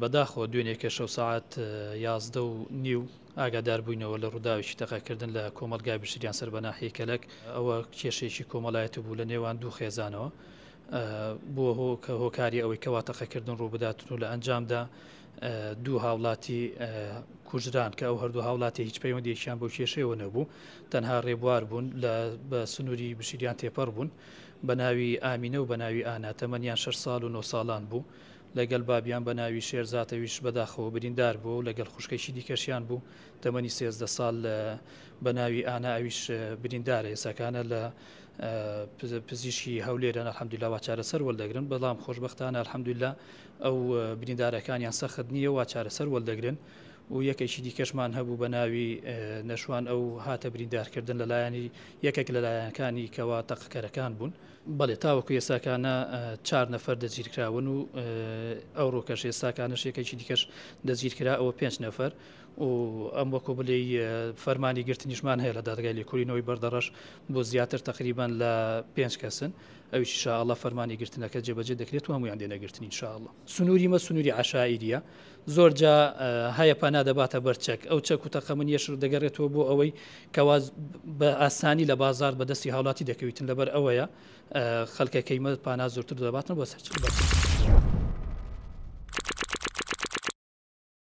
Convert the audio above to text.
بەداخەوە دوێنێ کەشەو سەعات یازدە و نیو ئاگادار بووینەوە لە ڕووداوێکی تەقەکردن لە کۆمەڵگای بشریان سەر بە ناحیەی کەلەک، ئەوە کێشەیەکی کۆمەڵایەتی بوو لە نێوان دوو خێزانەوە بووە هۆکە هۆکاری ئەوەی کەوا تەقەکردن ڕووبدات و لە ئەنجامدا دوو هاوڵاتی کوژران کە ئەو هەردوو هاوڵاتی هیچ پەیوەندێکیان بۆ کێشەیەوە نەبوو تەنها ڕێبوار بوون لە بە سنووری بشریان تێپەڕ بوون بە ناوی ئامینە و بە ناوی ئانا تەمەنیان 6 ساڵ و 9 ساڵان بوو لەگەل بابیان بە ناوی شێرزاتەویش بەداخەوە بریندار بووە و لەگەل خوشکێکی دیکەشیان بوو تەمەنی سێزدە سال بە ناوی ئانا ئەویش بریندارە ئێساکانە لە پزیشکی هەولێرن الحمدللە وا چارەسەر وەلدەگرن بەڵام خۆشبەختانە الحمدللە ئەو بریندارەکانیان سەخت نییە وا چارەسەر وەلدەگرن و یەکێکی دیکەشمان هەبوو بە ناوی نەشوان ئەو هاتە بریندارکردن لەلایەنی یەکێک لەلایەنەکانی کەوا تەقەکەرەکان بوون. بەڵێ تاوەکو ئێستاکانە چار نەفەر دەستگیرکراون و ئەوڕۆکەش ئێستاکانەش یەکێکی دیکەش دەستگیرکرا ئەوە پێنج نەفەر و ئەم وەکو بلێ فەرمانی گرتنیشمان هەیە لە دادگای لێکولینەوەی بەردەڕەش بۆ زیاتر تقریبان لە پێنج کەسن ئەوش شاءله فەرمانی گرتنەکە جێبەجێ دەکرێت و هەمویان دێنەگرتنی شاءله سنووری مە سنووری عشاعریە زۆر جا هەیە پەنا دەباتە بەر چەک، ئەو چەک و تەقەمەنییەش دەگەرێتەوە بۆ ئەوەی کەوا بە ئاسانی لە بازار بە دەستی هاوڵاتی دەکەویتن، لەبەر ئەوەیە خەلکەکەی مە پانا زۆرتر دەباتن بۆ سەر چەک.